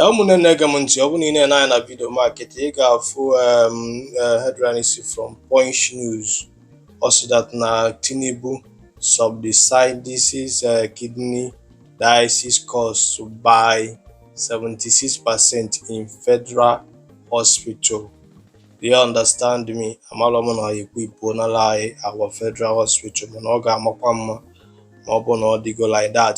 ụmụnne na-ege m ntị ọ bụ na i lee anya na vidio m a kịta ị ga-afụ eh, headline si from Punch News ọ sị that na Tinubu subsidizes eh, kidney dialysis costs by 76 percent in federal hospital do you understand me amalọ m na ekwu ipuo n'ala anyị our federal hospital mana ọ ga-amakwa mma ma ọ bụ na ọ dịgo like that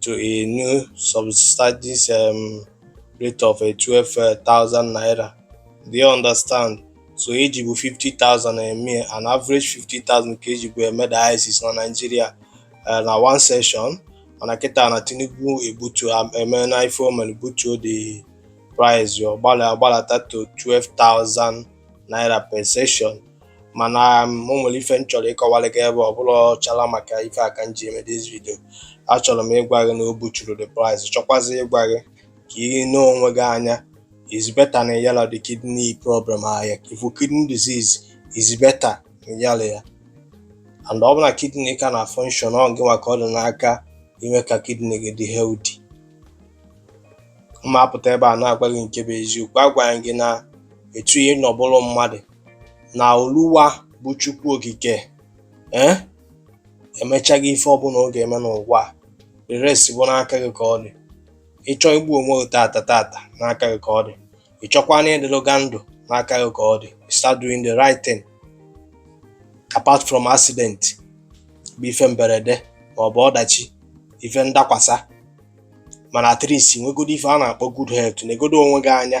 to a new subsidized um, rate of uh, 12,000 naira. Do you understand? So ejibu 50,000 eme uh, an average 50,000 ka ejibu eme dialysis na Nigeria uh, na one session mana kịta na Tinubu ebutu um, eme na ife o mere butuo the price ọ gbalata to 12,000 naira per session mana um, o nwere ife m chọrọ ịkọwara gị ebe a ọ bụlọ chara maka ife a ka m ji eme this video achọrọ m ịgwa gị na o buturu the price chọkwazi ịgwa gị ka ị nee onwe gị anya is better na ị yalọ the kidney problem ahịa ifu kidney disease is better na ị yalọ ya and ọ bụ na kidney ka na function ọ gịnwa ka ọ dị n'aka ime ka kidney gị dị healthy m apụta ebe a na-agwa gị nke bụ eziokwu agwa gị na etu ihe na ọ bụrụ mmadụ na oluwa bụ chukwu okike ee eh, emechago ife ọbụla ọ ga-eme n'ụwa the rest bụ n'aka gị ka ọ dị ị chọọ igbu onwe gị tata tata n'aka gị ka ọ dị ị chọkwanụ ịdịlụga ndụ n'aka gị ka ọ dị start doing the right thing apart from accident bụ ife mberede ma ọ bụ ọdachi ife ndakwasa mana at least nwegodo ife a na-akpọ good health negodo onwe gị anya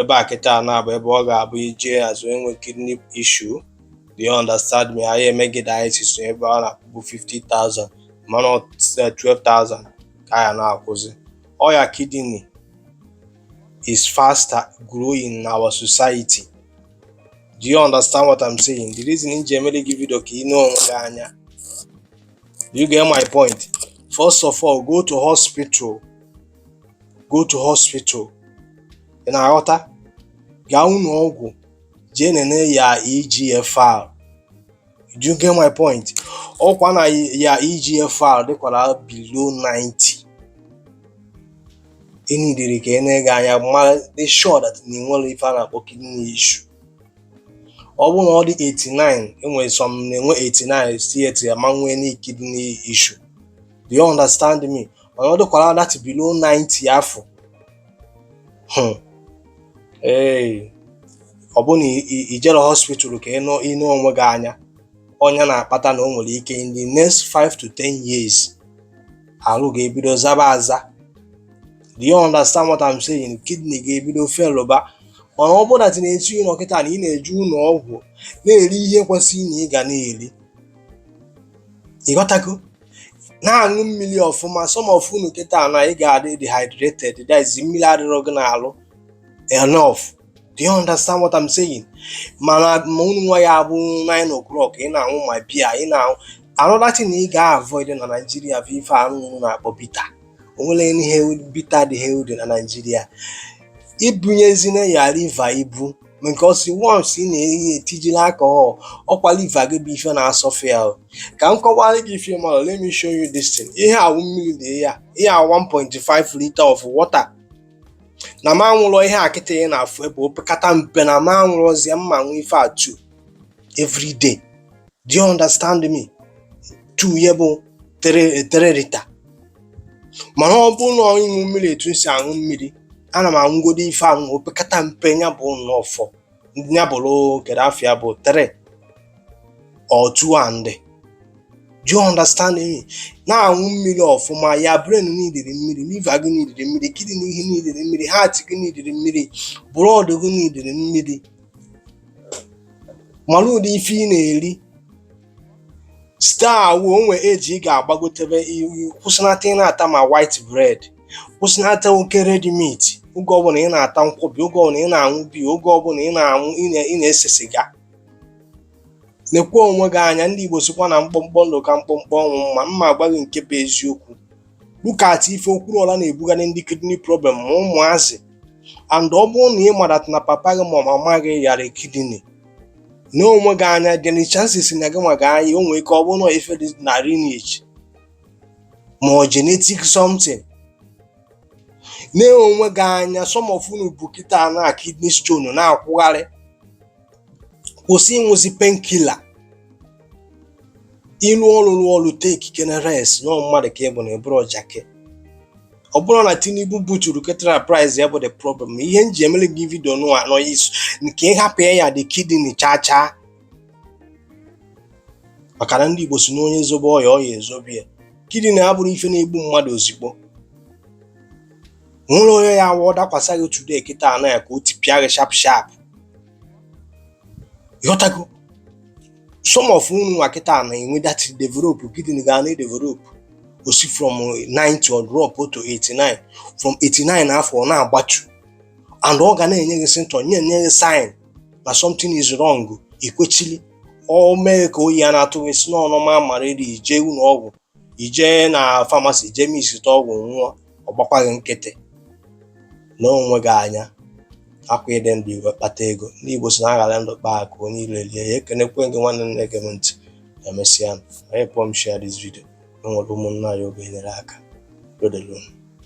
ebe a kịta na-abụ ebe ọ ga-abụ ije azụ enwe kidney issue do you understand me anyị eme gị dialysis ebe a na-akwụbu 50,000 mana 12,000 ka ya na-akwụzi ọya kidney is faster growing in our society do you understand what I'm saying the reason m ji emere gị vidio ka ị nee onwe gị anya you get my point first of all go to hospital go to hospital ị na-aghọta gaa ụlọ ọgwụ jee nene your EGFR do you get my point ọ kwa na your EGFR dịkwara below 90 i needịrị ka e nee gị anya mara dị sure that na enwere ife a na-akpọ kidney issue ọ bụrụ na ọ dị 89 enwere some na-enwe 89 still yet ya ma nwee any kidney issue do you understand me mana ọ dịkwara that below 90 afụ hmm. ee ọ bụ na ijere hospital ka ị nee onwe gị anya ọ nya na-akpata na o nwere ike in the next 5 to 10 years arụ ga-ebido zaba aza do you understand what I'm saying kidney ga-ebido felụba mana ọ bụrụ na etu ị nọ kịta na ị na-eje ụlọ ọgwụ na-eri ihe kwesịrị na ị ga na-eri ịghọtago na-aṅụ mmiri ọfụma some of unu kịta na ị ga-adị dehydrated that is mmiri adịrọ gị n'arụ enough do you understand what I'm saying mana ma unu nwa ya bụ 9 o'clock ị na-aṅụ ma beer ị na-aṅụ another thing ị ga-avoid na Naịjirịa bụ ife ahụ unu na-akpọ bitter o nwere ihe bitter dị healthy na Naịjirịa ibunyezina ya liver ibu because once ị na-eyi etijila alcohol ọkwa liver gị bụ ife na-asọfa ya o. ka m kọwara gị ife mara let me show you this thing ihe awụ mmiri dị ya ihe a 1.5 liter of water na m aṅụrọ ihe a kịta ị na-afụ ebe opekata mpe na m aṅụrọzie m aṅụọ ife a 2 every day do you understand me 2 ya bụ 3 liter mana ọ bụ na ịṅụ mmiri etu m si aṅụ mmiri ana m aṅụgodo ife ahụ opekata mpe ya bụ nnọọ 4 ya bụrụ kedu afa ya bụ 3 or 2 and do you understand me na-aṅụ mmiri ọfụma your brain needịrị mmiri liver gị needịrị mmiri kidney gị needịrị mmiri heart gị needịrị mmiri blood gị needịrị mmiri mara ụdị ife ị na-eri site awụ o nwee age ị ga-agbagotebe kwụsịnata ị na-ata ma white bread kwụsịnata oke red meat oge ọbụla ị na-ata nkwọbi oge ọbụla ị na-aṅụ beer oge ọbụla ị na-aṅụ ị na-ese siga nekwa onwe gị anya ndị Igbo sikwa na mkpọmkpọ ndụ ka mkpọmkpọ ọnwụ mma m na-agwa gị nke bụ eziokwu look at ife Okwuluọra na-ebugharị ndị kidney problem ma ụmụazị and ọ bụrụ na ị ma that na papa gị ma mama gị yara kidney nee onwe gị anya the chances na gị nwa ga-aya o nwere ike ọ bụrụ na ife dị na lineage ma ọ genetic something nee onwe gị anya some of unu bu kịta na kidney stone na-akwụgharị kwụsị ịṅụzi painkiller ị rụọ ọrụ rụọ ọrụ takekene rest na mmadụ ka ị bụ na ị bụrọ jakị ọ bụrọ na Tinubu buturu ketara price ya bụ the problem ihe m ji emere gị video nụwa anọ issue nke ịhapụ ya ya dị kidney chaa chaa maka na ndị Igbo si na onye zobe ọya ọya ezobe ya kidney abụrọ ife na-egbu mmadụ ozigbo nwere onye ya awụ ọ dakwasa gị today kịta anọ ya ka o tipịa gị sharp sharp ịghọtago some of unu nwa kịta na enwe that develop kidney ga na develop o si from 90 ọ drop to 89 from 89 afọ ọ na-agbatu and ọ ga na-enye gị symptom na-enye gị sign na something is wrong ikwechili o mee ka oyi ya na-atụ gị sị na ọ normal malaria i jee ụlọ ọgwụ i jee na pharmacy jee misita ọgwụ nwụọ ọ gbakwa gị nkịtị nee onwe gị anya ọ kwa ị dị ndụ i wee kpata ego ndị Igbo si na a ghara ndụ kpaa akụ onye ilo elie ya ekenekwee m gị nwanne na-ege m ntị emesịa ị helpụọ m share this video enwere ụmụnna anyị ọ ga-enyere aka udo dịlị unu